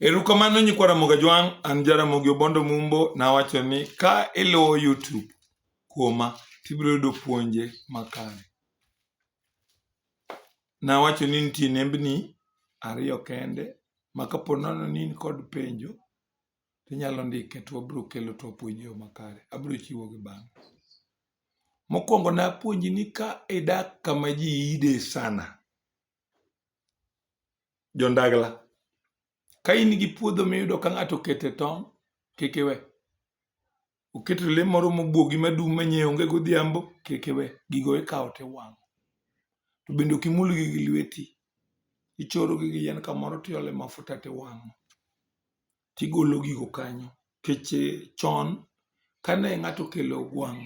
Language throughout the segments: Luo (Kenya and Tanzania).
Erukamano nyikwa Ramogi Ajwang', an Jaramogi Obondo Mumbo, nawacho ni ka iluwo YouTube kuoma tibiro yudo puonje makare. Nawacho ni nitie nembni ariyo kende ma kapo nono ni in kod penjo tinyalo ndike to wabiro kelo to wapuonji yo makare. Abiro chiwogi bang'e. Mokwongo napuonji ni ka idak kama ji ide sana, Jondagla, ka in gi puodho miyudo ka ng'ato okete tong', kik iwe. Oketo le moro mobuogi madum ma nyiewo onge godhiambo, kik iwe. Gigo ikawo tiwang'o. To bende ok imulgi gi lweti. Ichorogi gi yien kamoro tiole mafuta tiwang'o. Tigolo gigo kanyo. Nikech chon kane ng'ato okelo ogwang'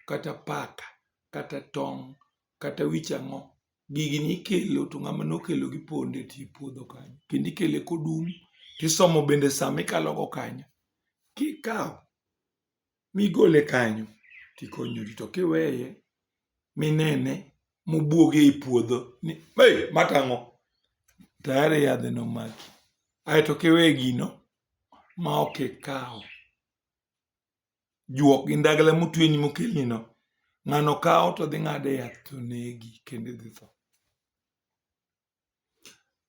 kata paka kata tong' kata wich ang'o, gigi nikelo to ng'ama nokelo gi ponde ti puodho kanyo kendo ikele kodum tisomo bende sama ikalo go kanyo kikawo migole kanyo tikonyori to kiweye minene mobuoge e puodho ni hey, matang'o tayari yadhe nomaki aeto kiweye gino ma ok ikawo juok gi ndagla motweni mokelnino, ng'ano kawo to dhi ng'ade yath to negi kendo idhi tho.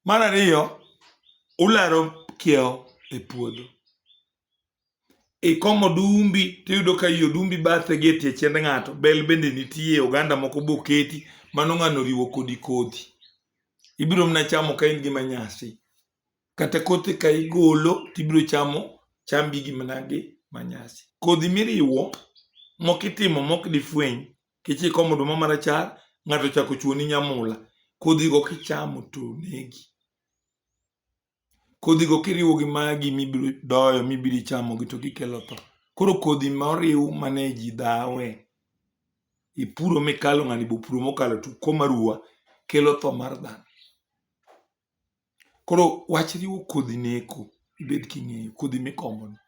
Mar ariyo, ularo kiewo e puodho. Ikomo odumbi tiyudo ka i odumbi bathe gi e tie chend ng'ato, bel bende nitie, oganda moko be oketi, mano ng'ano oriwo kodi kodhi. Ibiro mana chamo ka in gi manyasi. Kata kothe ka igolo tibiro chamo chambi gi managi manyasi. Kodhi miriwo mok itimo mok difweny kech ikomo oduma marachar ng'ato chako chuoni nyamula kodhigo kichamo to negi. Kodhigo kiriwo gi magi mibiro doyo mibiro chamo gi to gikelo tho. Koro kodhi ma oriw mane ji dhawe ipuro mikalo ng'ani bopuro mokalo to uko maruwa kelo tho mar dhano. Koro wach riwo kodhi neko ibed king'eyo kodhi mikomo no.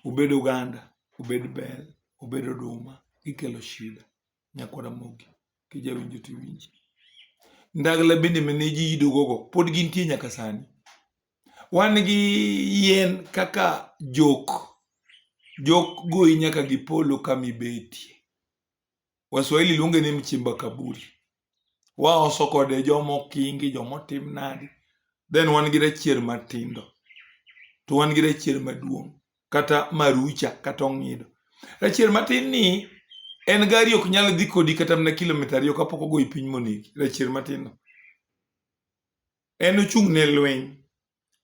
Obed oganda, obed bel, obed oduma gikelo shida. Nyako Ramogi kijawinjo tiwinji. Ndagla bende mane ji ido gogo pod gintie nyaka sani. Wan gi yien kaka jok, jok goyi nyaka gi polo kamibetie. Waswahili luonge ni mchimba kaburi. Waoso kode joma okingi, joma otim nadi. Then wan gi rachier matindo. To wan gi rachier maduong' kata marucha kata ong'ido. Rachier matin ni en gari ok nyal dhi kodi kata mana kilomita ariyo kapok ogoyi piny monegi. Rachier matin no. En ochung' ne lweny.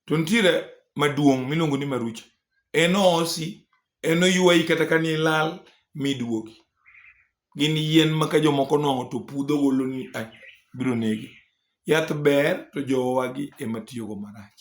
To nitiere maduong' miluongo ni marucha. Enosi, enoywayi kata ka nilal miduogi. Gin yien ma ka jomoko nong'o to pudho golo ni "Ah, biro nege. Yath ber to jowagi ema tiyogo marach.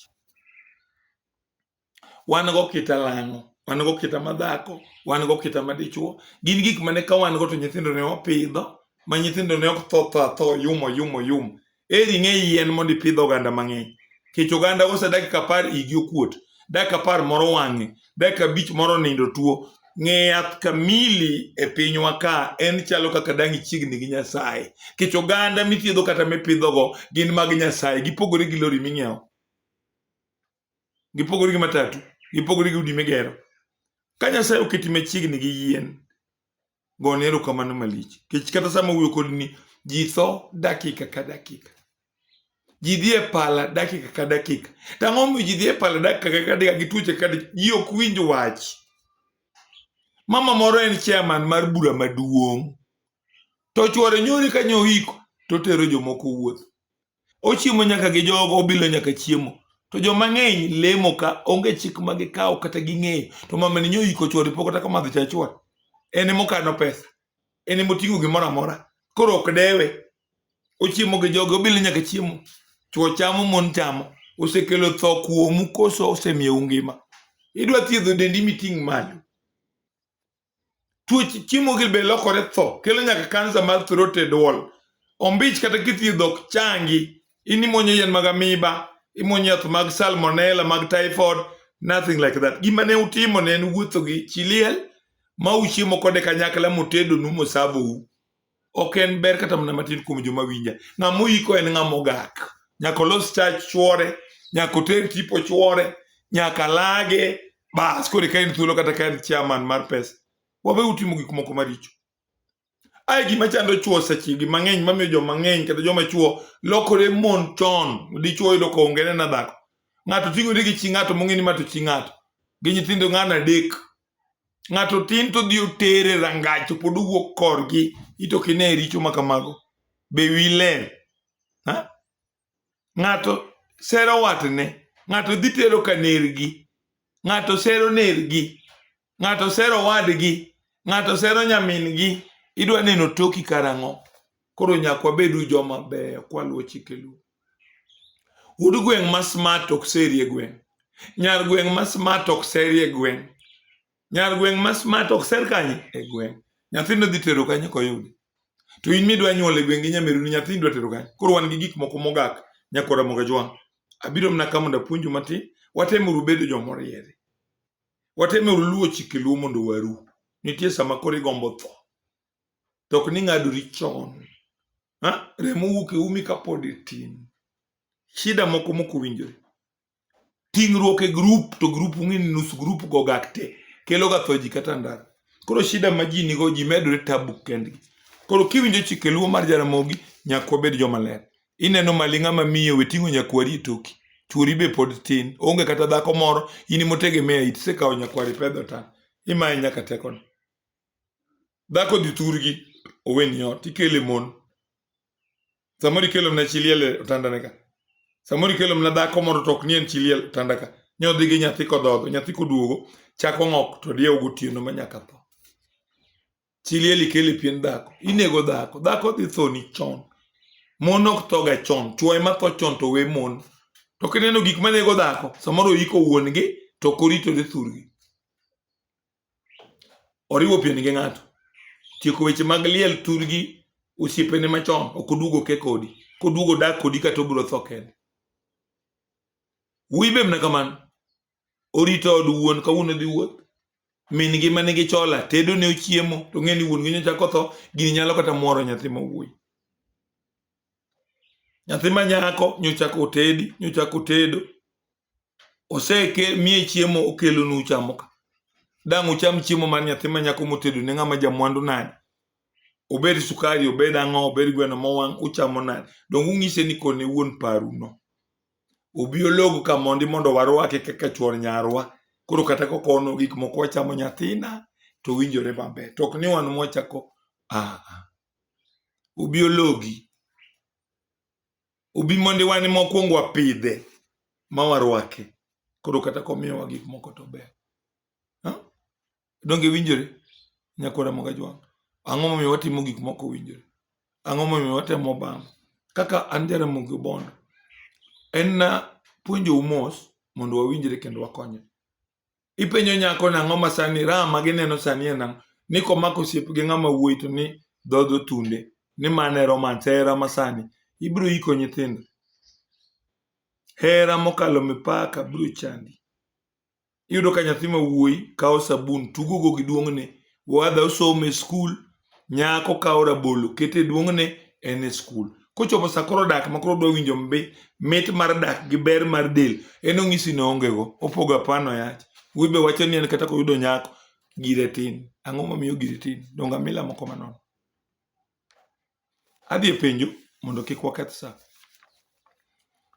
Wan go kita lang'o, wan go kita madhako, wan go kita madichwo. Gin gik mane ka wan go to nyithindo ne wapidho, ma nyithindo ne ok tho tho atho, yumo yumo yum. Eri ing'e yien mondo ipidh oganda mang'eny. Kech oganda ose dakika apar igi okuot, dakika apar moro wang'e, dakika abich moro nindo tuo. Ng'e yath kamili e pinywa ka en chalo kaka dang' ichiegni gi Nyasaye. Kech oganda mithiedho kata mipidhogo gin mag Nyasaye. Gipogore gi lori ming'iewo. Gipogore gi matatu. Gipogore gi udi migero. Ka Nyasaye oketi machiegni gi yien, gone erokamano malich kech kata sama wuyo kodi ni ji tho dakika ka dakika ji dhi e pala dakika ka dakika tang'o mi ji dhi e pala dakika ka dakika gi tuoche ka ji ok winj wach mama moro en chairman mar bura maduong' to chwore nyori ka nyohiko to tero jomoko wuoth Ochiemo nyaka gi jogo, obilo nyaka chiemo. To joma ng'eny lemo ka onge chik ma gikawo kata ging'eyo. To mamani nyo iko chwore pok kata kamadho cha chwore. En ema okano pesa. En ema oting'o gimoro amora. Koro ok dewe. Ochiemo gi jogo, obilo nyaka chiemo. Chwo chamo, mon chamo. Osekelo tho kuomu koso osemiyou ngima? Idwa thiedho dendi miting' malo. Tuoch chiemo gi be lokore tho, kelo nyaka kansa mar throat e dwol. Ombich kata kithiedho ok changi, in imonyo yien mag amiba, imonyo yath mag salmonella, mag typhoid, nothing like that. Gima ne utimo ne en wuotho gi chiliel ma uchiemo kode kanyakla motedonu mosavou. ok en ber kata mana matin kuom joma winja ng'ama oyiko en ng'ama ogak nyaka olos chach chuore nyaka oter tipo chuore nyaka lage bas koro ka en thuolo kata ka en chairman mar pesa wabe utimo gik moko maricho ae gima chando chuo sechegi mang'eny mamiyo joma ng'eny kata joma chuo lokore mon chon dichuo yudo ka onge nena dhako ng'ato ting'ore gi chi ng'ato mong'e ni ma to chi ng'ato gi nyithindo ng'ano adek ng'ato tin to dhi otere rangach to pod owuok korgi ito kine richo ma kamago be wi ler ng'ato sero watne ng'ato dhi tero ka nergi ng'ato sero nergi ng'ato sero wadgi ng'ato sero nyamingi idwa neno toki karang'o koro nyaka wabedu joma beyo kwaluwo chike luo Wuod gweng' ma smart ok serie gweng'. Nyar gweng' ma smart ok serie gweng'. Nyar gweng' ma smart ok ser kanye e gweng'. Nyathino dhi tero kanye koyude. To in midwa nyuol e gweng' gi nyameruni nyathini dwa tero kanye. Koro wan gi gik moko mogak nyaka Ramogi Jwang'. Abiro mana ka mondo apuonju matin. Watemuru bedo jomoriere. Watemuru luwo chike luo mondo waru. Nitie sama koro igombo tho. to ok ni ng'adori chon. Ha? Remo wuok e umi kapod itin. Shida moko moko winjore. Ting'ruok e grup to grup ung'e ni nus grup go gak te kelo ga tho ji kata ndara. Koro shida ma ji nigo ji medore tabu kendgi. Koro kiwinjo chike luo mar Jaramogi nyaka wabed joma ler. Ineno maling'a ma miyo we ting'o nyakwari e toki. Chuori be pod tin. Onge kata dhako moro in motegemea it sekawo nyakwari pedho tan. Imaye nyaka tekone. dhako dhi thurgi oweni ot ikele mon samoro ikelo mna chiliel e otandane ka samoro ikelo mna dhako moro to ok ni en chiliel otanda ka nyodhi gi nyathi kodhodho nyathi koduogo chako ng'ok to diyew gotieno ma nyaka tho chiliel ikele pien dhako inego dhako dhako dhi thoni chon mon ok thoga chon chwo ema tho chon to we mon to kineno gik manego dhako samoro iko wuon-gi to korito dhi thurgi oriwo pieni gi ng'ato tieko weche mag liel turgi osiepene machon ok oduogo ke kodi koduogo dak kodi kata obiro tho kende wuyi be mna kamano orito od wuon kawuono dhi wuoth min gi mane gi chola tedo ne ochiemo to ng'e ni wuon gi nyocha kotho gini nyalo kata mworo nyathi ma wuoyi nyathi ma nyako nyocha kotedi nyocha kotedo oseke mie chiemo okelonu uchamo ka dang' ucham chiemo mar nyathi ma nyako motedo ne ng'ama jamwandu nade obed sukari obed ang'o obed gweno mowang' uchamo nade donge ung'ise ni kone wuon paruno obi ologo ka mondi mondo warwake kaka chuor nyarwa koro kata kokono gik moko wachamo nyathina to winjore maber to ok ni wan mwachako aa obi ologi Obi mondo wane mokwongo wapidhe ma warwake koro kata komiyowa gik moko to ber Ha? donge winjore nyakwara moga jwang' ang'o momiyo watimo gik moko winjore ang'o momiyo watemo bam kaka an jaramogi obondo en na puonjou mos mondo wawinjre kendo wakonyre Ipenjo nyako nang'o ma sani raha ma gineno sani en nang'o? Ni komako osiep gi ng'ama wuoyi to ni dhodho tunde ni mano e romance hera ma sani ibiro iko nyithindo. Hera mokalo mipaka biro chandi. Iyudo ka nyathi ma wuoyi kawo sabun tugogo gi duong'ne, oadha osomo e skul, nyako kawo rabolo kete e duong'ne en e skul kochopo sa koro dak ma koro dowinjo mbi mit mar dak gi ber mar del en ong'isi ne ongego opogo apano yach wuoyi be wacho ni en kata koyudo nyako gire tin ang'o momiyo gire tin donga mila moko manono adhi e penjo mondo kik waketh sa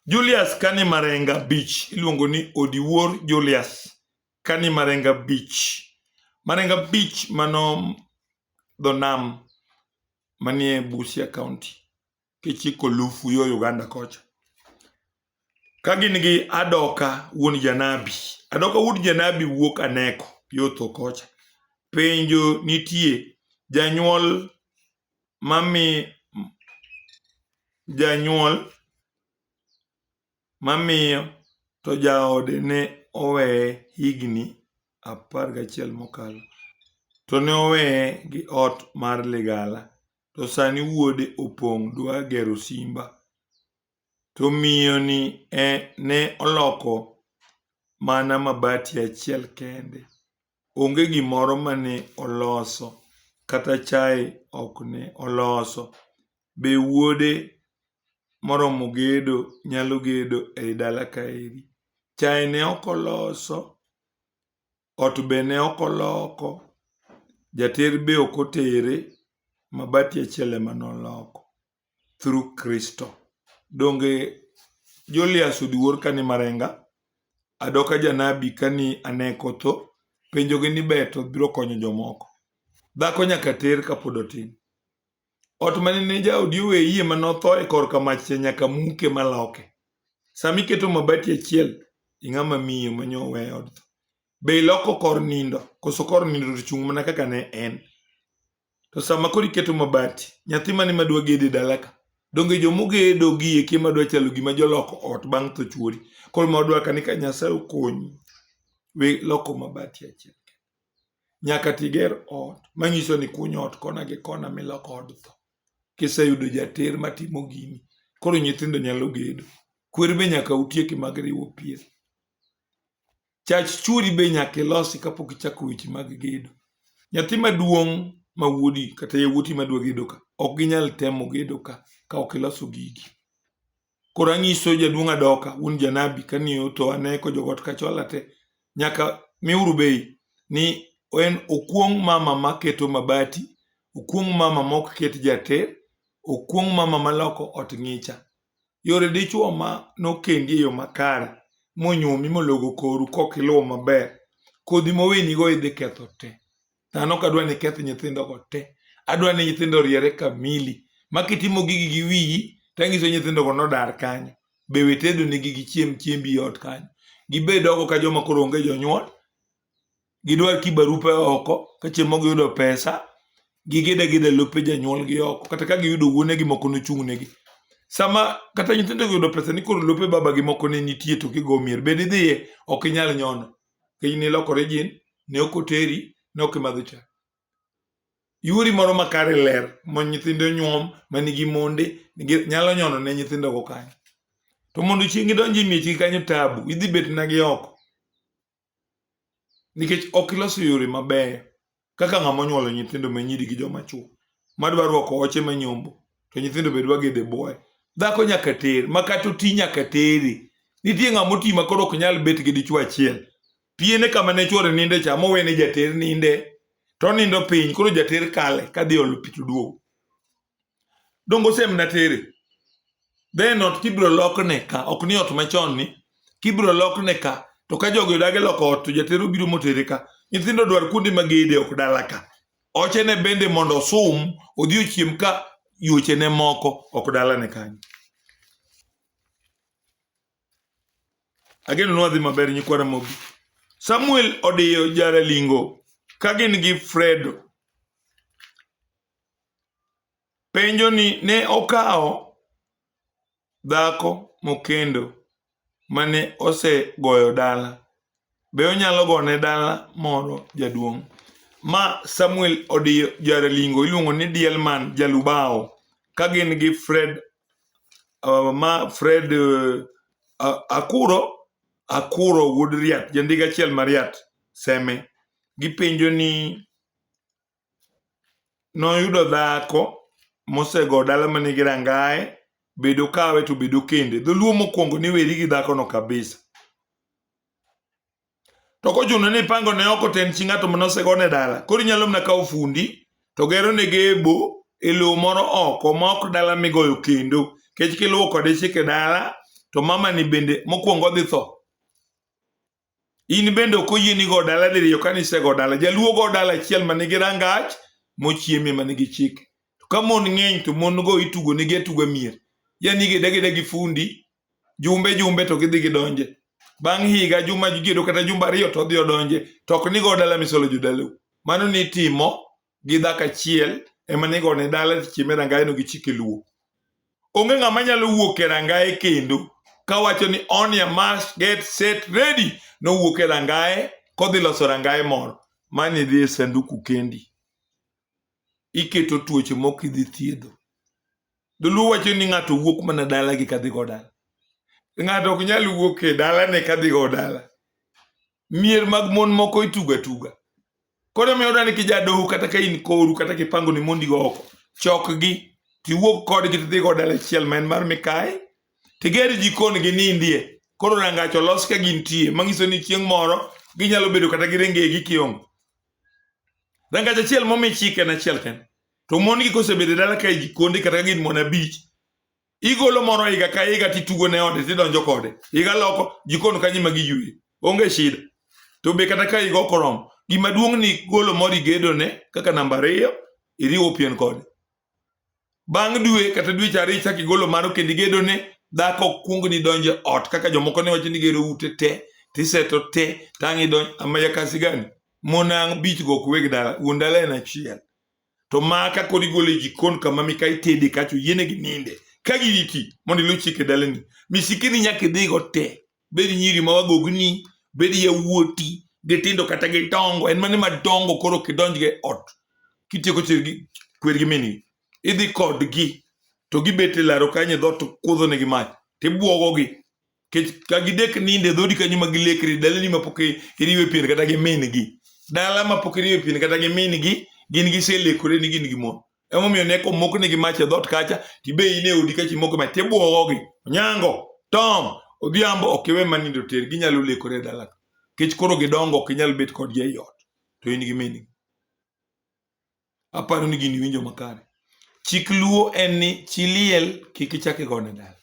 julius kani marenga beach iluongo ni odiwuor julius ka ni marengo abich, marengo abich mano dho nam manie Busia kaonti kichiko lufu yo Uganda kocha. Ka gin gi Adoka wuon janabi, Adoka wuod janabi wuok Aneko yo tho kocha. Penjo nitie, janyuol mami janyuol mamiyo to jaode ne oweye higni apar gachiel mokalo, to ne oweye gi ot mar ligala, to sani wuode opong' dwa gero simba. To miyoni ne oloko mana mabati achiel kende. Onge gimoro ma ne oloso, kata chaye ok ne oloso. Be wuode moromo gedo nyalo gedo ei dala kaeri? Chaye ne ok oloso, ot be ne ok oloko, jater be ok otere, mabati achiel ema ne oloko. through Kristo. Donge Julius odiwuor kani marenga adoka janabi kani ane kotho penjogi ni beto biro konyo jomoko. Dhako nyaka ter kapod otin. Ot mane ne jaodi oweyie ma notho e korka mach cha nyaka muke maloke. Sama iketo mabati achiel, ing'ama miyo ma nyo owe od tho. Be iloko kor nindo? Koso kor nindo to chung' mana kaka ne en? To sama koro iketo mabati, nyathi mane ma dwa gedo e dalaka, donge joma ogedo gie kie ma dwa chalo gima joloko ot bang' tho chuori. Koro ma odwaka ni ka Nyasaye okonyi, we loko mabati achiel. Nyaka tiger ot manyiso ni kuny ot kona gi kona miloko od tho. Kiseyudo jater matimo gini, koro nyithindo nyalo gedo. Kwer be nyaka utieki mag riwo pien. Chach chwori be nyaka ilosi kapok ichako weche mag gedo. Nyathi maduong' ma wuodi kata yawuoti madwa gedo ka ok ginyal temo gedo ka ka ok iloso gigi. Koro anyiso jaduong' adoka wuon janabi kani oto aneko jogot kachola te nyaka miuru bei ni en okuong' mama maketo mabati, okuong' mama mok ket jate, okuong' mama maloko ot ng'icha. Yore dichwo ma nokendi e yo makare monyuomi mologo koru kok iluwo maber, kodhi mowinigo idhi ketho te. Dhano ok adwa ni iketh nyithindogo te. Adwa ni nyithindo oriere kamili ma kitimo gigi gi wiyi to anyiso nyithindogo nodar kanyo. Be we tedonigi gichiem chiembi e ot kanyo. Gibed oko ka joma koro onge jonyuol. gidwar ki barupe oko ka chieng' moko giyudo pesa gigide gidhe lope janyuolgi oko kata ka giyudo wuonegi moko nochung'negi sama kata nyithindo yudo pesa ni koro lope babagi moko ne nitie to kigo mier bed idhiye ok inyal nyono kiny nilokore jin ne ok oteri ne ok imadho cha yuori moro makare ler ma nyithindo nyuom ma nigi monde nigi- nyalo nyono ne nyithindogo kanyo to mondo chieng' idonj e miechgi kanyo tabu idhi bet nagi oko nikech ok iloso yore mabeyo kaka ng'ama onyuolo nyithindo ma nyiri gi joma chuo madwa rwako oche ma nyombo to nyithindo be dwa gede boye dhako nyaka ter ma kata oti nyaka teri nitie ng'ama oti ma koro ok nyal bet gi dichwo achiel piene kama ne chwore ninde cha mowene jater ninde to nindo piny koro jater kale kadhi olo pi to duogo dongo sem na tere then ot kibro lokne ka ok ni ot machon ni kibro lokne ka to ka jogi odage loko ot to jatero biro motere ka nyithindo dwar kuonde magede ok dala ka ochene bende mondo osum odhi ochiem ka yuochene moko ok dalane kanyo ageno nwadhi maber nyikwara mogi samuel odiyo jaralingo ka gin gi fredo Penjo ni ne okawo dhako mokendo mane osegoyo dala. Be onyalo gone dala moro jaduong'? Ma Samuel Odiyo Jaralingo iluongo ni Diel Man Jalubawo ka gin gi Fred uh, ma Fred uh, Akuro Akuro wuod Riat jandik achiel ma Riat seme gipenjo ni noyudo dhako mosego dala manigi rangaye bedo kawe to bedo kende dholuo mokwongo ni weri gi dhakono kabisa to kochuno ni ipango ne oko ten chi ng'ato mane osego ne dala koro inyalo mana kawo fundi to gero ne gebo e lowo moro oko ma ok dala migoyo kendo kech kiluwo kode chike dala to mama ni bende mokwongo odhi tho In bende ok oyieni go dala diriyo ka nisego dala. Jaluo go dala achiel ma nigi rangach mochieme ma nigi chike. To ka mon ng'eny to mon go itugo nigi atuga mier. Yani gida gida gi fundi jumbe jumbe to gidhi gidonje. Bang' higa juma giedo kata jumba ariyo to odhi odonje. To ok nigo dala misolo jodalau. Mano nitimo gi dhako achiel ema ne igone dala chieme rangayeno gi chike luo onge ng'ama nyalo wuok e rangaye kendo kawacho ni on ya mask get set ready nowuok e rangaye kodhi loso rangaye moro mani dhi e sanduku kendi iketo tuoche mok idhi thiedho dholuo wacho ni ng'ato wuok mana dalagi kadhigo dala ng'ato ok nyal wuok e dalane kadhigo dala mier mag mon moko itugo atuga. Koro miyo dani kijadoho kata ka in koru kata kipango ni mondi go oko, chokgi tiwuog kodgi tidhi go dala achiel ma en mar mikayi, tiger jikon gi nindie. Koro rangach olos ka gintie, manyiso ni chieng' moro ginyalo bedo kata gi rengegi kiongo. Rangach achiel momi chik en achiel kende. To mon gi kosebedo e dala ka e jikonde kata ka gin mon abich, igolo moro higa ka higa titugo ne ode tidonjo kode higa loko jikon kanyi ma giyuye onge shida to be kata ka higa ok oromo gima duong' ni golo moro igedo ne kaka namba ariyo iriwo pien kode bang' dwe kata dweche ariyo ichak igolo maro kendo igedo ne dhako ok kuong ni donjo ot kaka jomoko ne wacho ni gero ute te tiseto te tang' idonj amaya kasi gani monang' bich go kuwe gi dala wuon dala en achiel to maka kod igole e jikon kama mika itede kacho yiene gi ninde ka giriti mondo iluw chike dalani misikini nyaka idhigo te bed nyiri ma wagogni bed yawuoti gitindo kata gidongo en mane madongo koro kidonjgi e ot kitieko chirgi kwergi mini idhi kodgi to gibet e laro kanyo e dhoot kudhonegi mach tibwogogi kech ka gidek ninde dhodi kanyo ma gilekre dalani ma pok iriwe pien kata gi min gi dala ma pok iriwe pien kata gi min gi gin giselekore ni gin gi mon emomiyo ne komok nigi mach e dhot kacha tibe in e odi kacha imoko mach tibwogogi onyango tom odhiambo ok iwe ma nindo ter ginyalo lekore e dalaka kech koro gidongo ok inyal bet kodgi ei ot to in gi min gi Aparo ni gini winjo makare. Chik luo en ni chi liel kik ichak igone dala.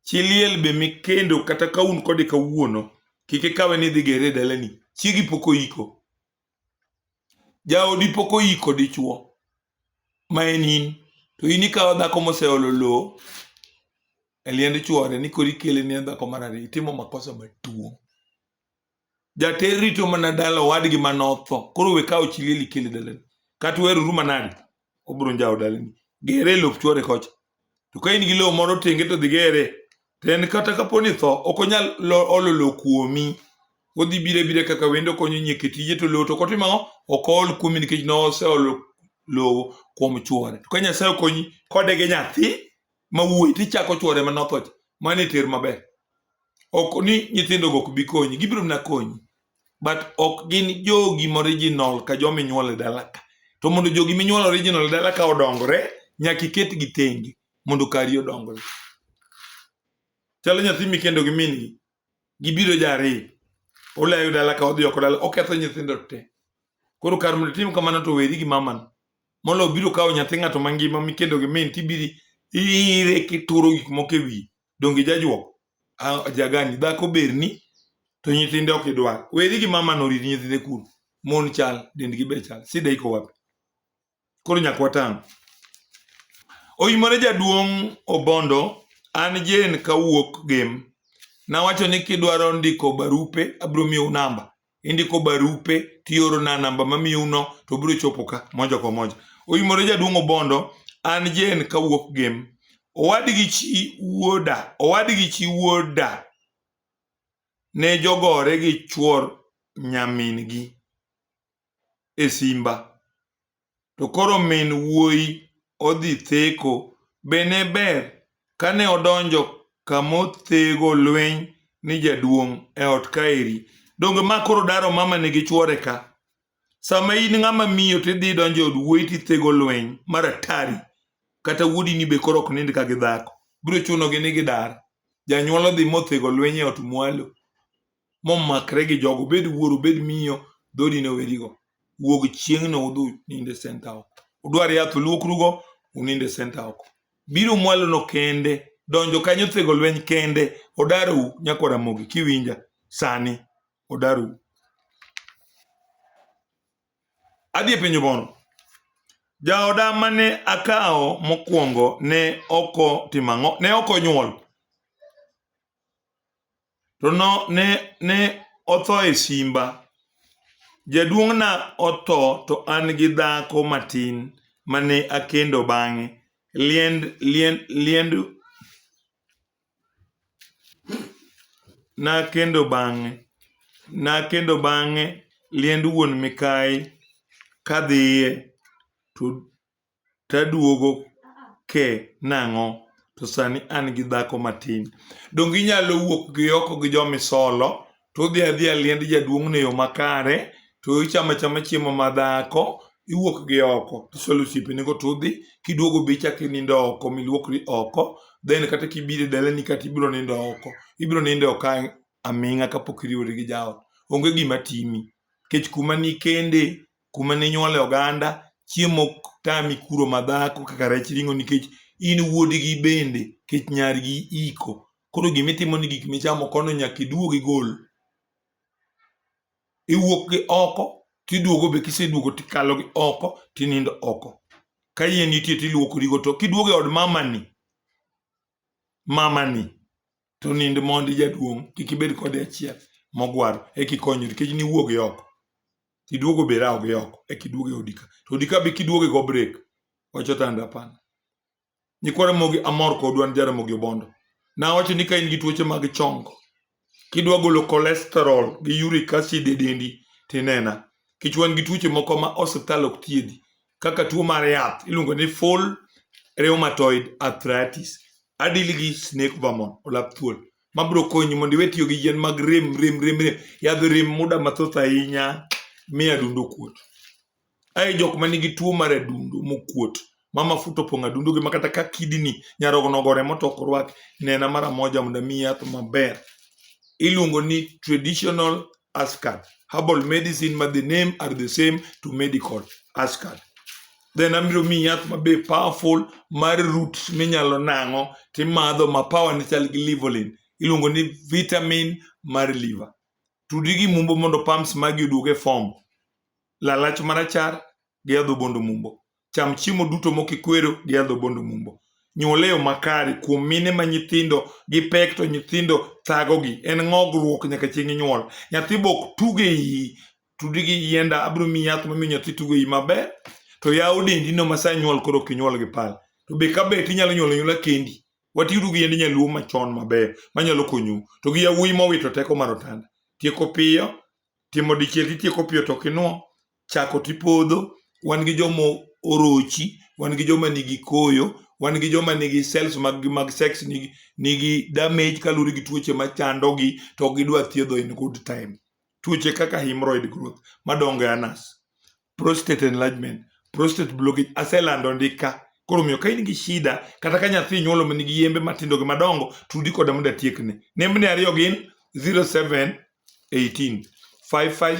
Chi liel be mikendo kata ka un kode kawuono kik ikawe ni idhi gere e dalani. Chiegi pok oiko. Jaodi pok oiko dichuo ma en in to in ikawo dhako moseolo lowo e liend chuore ni koro ikele ne dhako mar ariyo itimo makosa maduong'. jater rito mana dala owadgi ma notho koro we kawo chi liel ikele dalani kata uheroru manade obiro njawo dalani gere e lop chwore kocha to ka in gi lowo moro tenge to dhi gere to en kata kapo ni tho ok onyal lo- olo lowo kuomi odhi bire bire kaka wendo konyo nyieke tije to lowo to ok otimo ang'o ok ool kuomi nikech noseolo lowo kuom chwore to ka nyasaye okonyi kode gi nyathi ma wuoyi to ichako chwore ma notho cha mano e ter maber ok ni nyithindogo ok bi konyi gibiro mana konyi but ok gin jogi moriginal ka joma inyuolo e dala ka to mondo jogi minyuolo original e dala ka odongre nyaka iketgi tenge mondo kari odongre chalo nyathi mikendo gi min-gi Gibiro jariyo, olayo dala ka odhi oko dala, oketho nyithindo te. Koro kar mondo itim kamano to weri gi mamano. Molo biro kawo nyathi ng'ato mangima mikendo gi min tibiri ire kituro gik moko e wiye. Donge jajuok? Ah, jagani dhako berni to nyithinde ok idwar. Weri gi mamano rit nyithinde kuro. Mon chal, dendgi be chal. Sida iko wapi? Koro nyaka watang'. Oimore jaduong' Obondo, an Jane kawuok Gem. Nawacho ni kidwaro ndiko barupe abiro miyou namba. Indiko barupe tiorona namba mamiyouno to biro chopo ka moja kwa moja. Oimore jaduong' Obondo, an Jane kawuok Gem. Owadgi chi wuoda, owadgi chi wuoda ne jogore gi chuor nyamin-gi. e simba to koro min wuoyi odhi theko, be ne ber kane odonjo kama othego lweny ni jaduong' e ot kaeri? Donge ma koro daro mamane gi chwore ka? Sama in ng'ama miyo to idhi idonjo e od wuoyi to ithego lweny mar atari, kata wuodini be koro ok nind ka gi dhako, biro chunogi ni gidar. Janyuol odhi mothego lweny e ot mwalo. momakre gi jogo obed wuoro obed miyo dhodi ne werigo wuog chieng'no udhu ninde senta oko udwar yath uluokrugo uninde senta oko biro mwalono kende donjo kanyo thego lweny kende odarou nyako ramogi kiwinja sani odarou adhi e penjo mono jaoda mane akawo mokwongo ne oko timang'o ne oko nyuol To no, ne, ne otho e simba. Jaduong'na otho to an gi dhako matin ma ne akendo bang'e. Liend, liend, liend nakendo bang'e. Nakendo bang'e liend wuon Mikayi kadhiye to taduogo ke nang'o to sani an gi dhako matin. Donge inyalo wuok gi oko gi jomisolo to udhi adhiya liend jaduong'no e yo makare to ichamo achama chiemo ma dhako iwuok gi oko tisolo osiepenego to udhi kiduogo be ichako inindo oko miluokri oko then kata kibiro e dalani kata ibiro nindo oko ibiro nindo oko aming'a kapok iriwori gi jaot. Onge gima timi nikech kuma nikende kuma ne nyuole oganda, chiemo ok tami kuro madhako kaka rech ring'o nikech in wuodgi bende kech nyargi iko. Koro gima itimo ni gik michamo kono nyaka iduog igol. Iwuok gi oko tiduogo be kiseduogo tikalo gi oko tinindo oko. Ka yie nitie tiluokorigo to kiduogo e od mamani, mamani to nind mondi jaduong' kik ibed kode achiel mogwaro eka ikonyri nikech niwuoge oko tiduogo be rawoge oko eka iduog e odi ka to odi ka be kiduoge go break wacho tanda hapana nyikwa Ramogi amor kodu an Jaramogi Obondo nawacho ni ka in gi tuoche mag chongo kidwa golo cholesterol gi uric acid e dendi tinena nikech wan gi tuoche moko ma osiptal ok thiedhi kaka tuo mar yath iluongo ni full rheumatoid arthritis adil gi snake vermon olap thuol ma biro konyi mondo iwe tiyo gi yien mag rem rem rem rem yadh rem muda mathoth ahinya mi adundo kuot ae jok ma nigi tuo mar adundo mokuot ma mafuta opong' adundo gi makata ka kidini nyarogno gore motok orwak nena mara moja mondo mi yath maber iluongo ni traditional Ascard. Herbal medicine ma the name are the same to medical Ascard. Then abiro mi yath ma be powerful mar root minyalo nang'o timadho ma power ne chal gi livolin. Iluongo ni vitamin mar liver. Tudi gi mumbo mondo pumps magi oduog e form. Lalach marachar gi adhobondo mumbo. cham chiemo duto mokikwero gi adhobondo mumbo nyuol e yo makare kuom mine ma nyithindo gi pek to nyithindo thagogi en ng'ogruok nyaka chieng' inyuol nyathi bok tuge iyi tudi gi yienda abiro miyi yath mamiyo nyathi tuge iyi maber to yaw dendino ma sa nyuol koro kinyuol gi pal to be ka bet inyalo nyuolo nyuola kendi watiuru gi yiend nyaluo machon maber manyalo konyu to gi yawuoyi mowito teko mar otanda tieko piyo timo dichiel titieko piyo to kinwo chako tipodho, wan gi joma orochi, wan gi joma nigi koyo, wan gi joma nigi cells mag mag sex nigi, nigi damage kaluwore gi tuoche machandogi to ok gidwa thiedho in good time. Tuoche kaka hemorrhoid growth madongo e anus, prostate enlargement, prostate blockage aselando ndika. Koro omiyo ka in gi shida kata ka nyathi inyuolo ma nigi yembe matindo gi madongo, tudi koda mondo atiekne. Nembni ariyo gin 0718 55